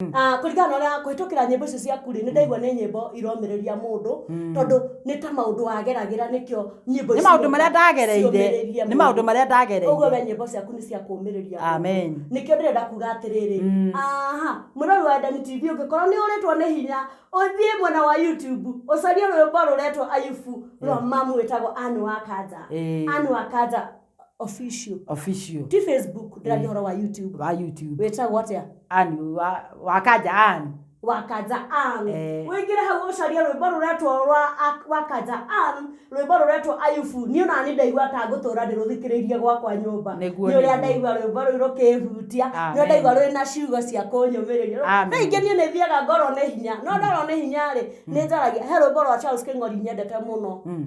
Mm. Ah, kũringana na ũrĩa kũhĩtũkĩra nyĩmbo icio ciaku rĩ nĩ ndaigua nĩ nyĩmbo iromĩrĩria mũndũ tondũ nĩ ta maũndũ wageragĩra nĩkĩo nyĩmbo nĩ ici maũndũ marĩa nĩgetha ndagereire ciũmĩrĩrie nĩ maũndũ mũndũ. marĩa ũguo ndagereire we nyĩmbo ciaku nĩ cia kũmĩrĩria Amen. nĩkĩo ndĩrenda kuga atĩrĩrĩ Mm. aha mũrori wa endani tv ũngĩkorwo nĩ ũrĩtwo nĩ hinya ũthiĩ mwena wa youtube ũcarie rwĩmbo rũretwo ayubu rwa mamu wĩtagwo anu wa kanja Ĩĩ. anu wa kanja official official ti facebook ndĩraria ũhoro wa youtube wa youtube wĩtagwo atĩa ani wa wakanja ani wakanja ang Eh. wĩingĩre hau ũcarie rwĩmbo rũretwo rwa Ak- wakanja ang rwĩmbo rũretwo ayubu niĩ ona nĩ ndaigua ta ngũtũra ndĩrũthikĩrĩirie gwakwa nyũmba Nĩguo, nĩ ũrĩa nĩguo. ndaigua rwĩmbo rũu rũkĩhutia nĩ Amen. ũrĩa ndaigua rwĩ na ciugo cia kũnyũmĩrĩria Amen. na ingĩ niĩ nĩ thiaga ngorwo nĩ hinya no ndorwo nĩ hinya rĩ nĩ njaragia he rwĩmbo rwa charles kĩng'ori nyendete mũno Mm.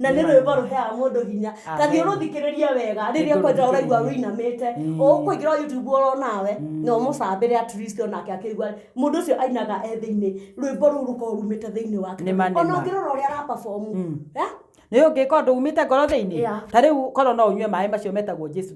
na nĩ rwĩmbo rũheaga mũndũ hinya ta thiĩ rũthikĩrĩrie wega rĩrĩa kwanja ũraigua wĩinamĩte ũkũingĩra youtube oro nawe na ũmũcambĩre at least onake akĩigua mũndũ ũcio ainaga e thĩinĩ rwĩmbo rũu rũkorwo rumĩte thĩinĩ wake Nĩ ma, nĩ ona ma. ũngĩrora ũrĩa araperform eh? nä å ngä ka å ndå umä te ngoro thä inä Yeah. ta rä u korwo no å nyue maä macio metagwo jesu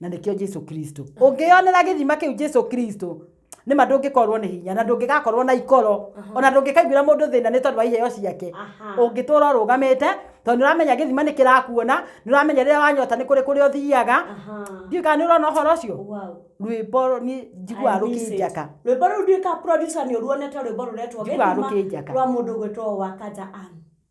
na nĩkĩo jesu kristo ũngĩyonera gĩthima kĩu jesu kristo nĩ ma ndũngĩkorwo nĩ hinya na ndũngĩgakorwo na ikoro ona ndũngĩkaiguĩra mũndũ thĩna nĩ tondũ wa iheo ciake ũngĩtũra ũrũgamĩte tondũ nĩ ũramenya gĩthima nĩ kĩrakuona nĩ ũramenya rĩrĩa wanyota nĩ kũrĩ kũrĩa ũthiaga ndiũ kana nĩ ũrona ũhoro ũcio rwĩmbo niĩ njiguaga rũkĩnjaka rwĩmbo rũu nduĩka producer nĩ ũruonete rwĩmbo rũretwo Njiguaga gĩthima rũkĩnjaka. rwa mũndũ gwĩtwo wakanja Ann